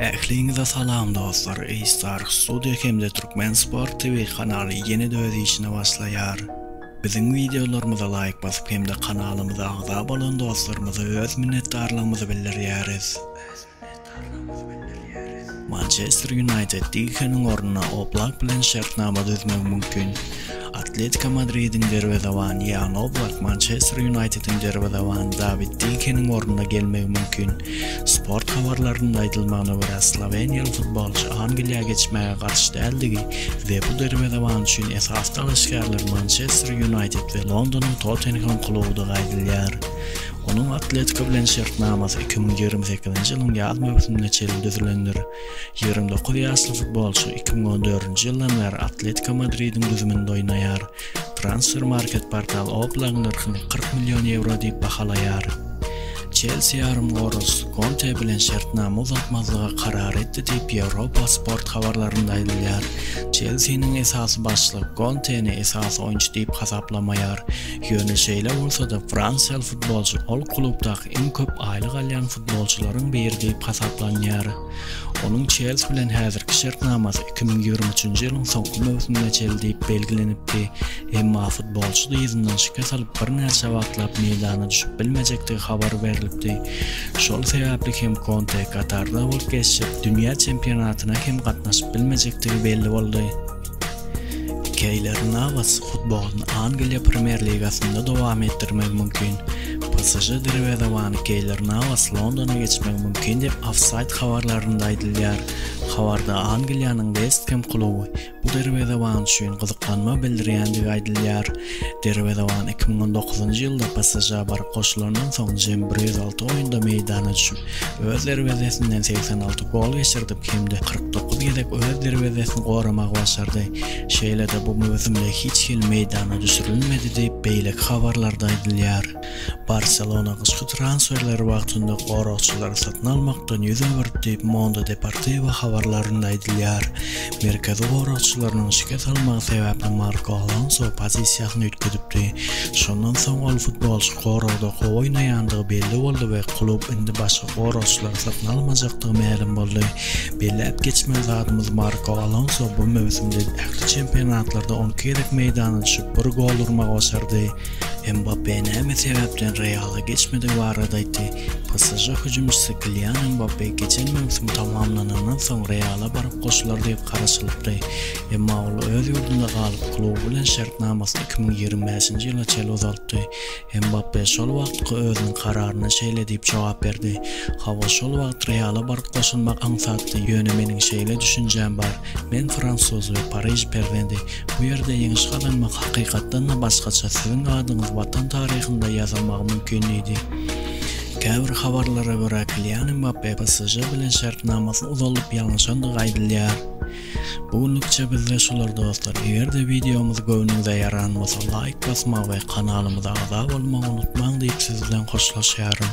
Ähliňize salam dostlar A-Star Studio hemde Türkmen Sport TV kanaly ýene-de öz işine başlaýar. Biziň wideolarymyza laýk basyp hemde kanalymyza agza bolan dostlarymyza öz minnetdarlygymyzy bildirýäris. Mançester Ýunaýted Dikeniň ornuna Oblak bilen şertnama düzmegi mümkin. Atletiko Madridiň derwezebany Ýan Oblak Mançester Ýunaýtediň derwezebany Dawid Dikeniň ornuna gelmegi mümkin. Sport habarlarynda aýdylmagyna görä, sloweniýaly futbolçy Angliýa geçmäge garşy däldigi we bu derwezeban üçin esasy dalaşgärler Mançester Ýunaýted we Londonyň Tottenhem klubudygy aýdylýar. Onuň Atletiko bilen şertnamasy iki müň ýigrimi sekizinji ýylyň ýaz möwsümine çenli düzülendir. Ýigrimi dokuz ýaşly futbolçy iki müň on dördünji ýyldan bäri Atletiko Madridiň düzüminde oýnaýar. Transfermarkt portaly Oblagyň nyrhyny kyrk million ýewro diýip bahalaýar. Çelsi ýarymgoragçysy Konte bilen şertnama uzaltmazlyga karar etdi diýip, Ýewropa Sport habarlarynda aýdylýar. Çelsiniň esasy başlygy Konteni esasy oýunçy diýip hasaplamaýar. Ýöne şeýle bolsa-da, fransiýaly futbolçy ol klubdaky Iň köp aýlyk alýan futbolçylaryň biri diýip hasaplanýar. Onuň Çelsi bilen häzirki şertnamasy iki müň ýigrimi üçünji ýylyň soňky möwsümine çenli diýip belgilenipdi, emma futbolçy dyzyndan şikes alyp birnäçe wagtlap meýdana düşüp bilmejekdigi habar berlipdi. Şol sebäpli hem Konte Katarda bolup geçjek dünýä çempionatyna hem gatnaşyp bilmejekdigi belli boldy. Keýler Nawaz futbolyny Angliýa Premýer ligasynda dowam etdirmegi mümkin. PSŽ derwezebany Keýler Nawaz Londona geçmegi mümkin diýip, Offside habarlarynda aýdylýar. Habarda Angliýanyň West Hem kluby bu derwezeban üçin gyzyklanma bildirýändigi aýdylýar. Derwezewan iki müň on dokuzynjy ýylda PSŽ-a baryp goşulandan soň jemi bir ýüz alty oýunda meýdana düşüp, öz derwezesinden segsen alty gol geçirdip hem-de kyrk dokuz gezek öz derwezesini goramagy başardy. Şeýle-de bu möwsümde hiç hili meýdana düşürilmedi diýip, beýleki habarlarda aýdylýar. Barselona gyşky transferleri wagtynda goragçylary satyn almakdan ýüz öwürdi diýip, Mondo Deportivo habarlarynda aýdylýar. Merkezi goragçylarynyň şikes almagy sebäpli Marko Alonso pozisiýasyny üýtgedipdi. Şondan soň ol futbolçy goragda gowy oýnaýandygy belli boldy we klub indi başga goragçylary satyn almajakdygy mälim boldy. Belläp geçmeli zadymyz, Marko Alonso bu möwsümde ähli çempionatlarda on iki gezek meýdana düşüp, bir gol urmagy başardy. Mbappe näme sebäpden Reala geçmedigi barada aýtdy, PSŽ hüjümçisi Kilian Mbappe geçen möwsüm tamamlanandan soň Reala baryp goşular diýip garaşylypdy, emma ol öz ýurdunda galyp, kluby bilen şertnamasyny iki müň ýigrimi bäşinji ýyla çenli uzaltdy. Mbappe şol wagtky özüniň kararyna şeýle diýip jogap berdi, Hawa, şol wagt Reala baryp goşulmak aňsatdy, ýöne meniň şeýle düşünjäm bar, Men fransuz we pariž perzendi. Bu ýerde ýeňiş gazanmak hakykatdan-da başgaça, siziň adyňyz watan taryhynda ýazylmagy mümkin diýdi. Käbir habarlara görä, Kilian Mbappe PSŽ bilen şertnamasy uzalyp ýalňyşandygy aýdylýar. Bu günlükçe bizde şular dostlar, eger-de wideomyz göwnüňize ýaran bolsa laýk basmagy we kanalymyza agza bolmagy unutmaň diýip siz bilen hoşlaşýaryn.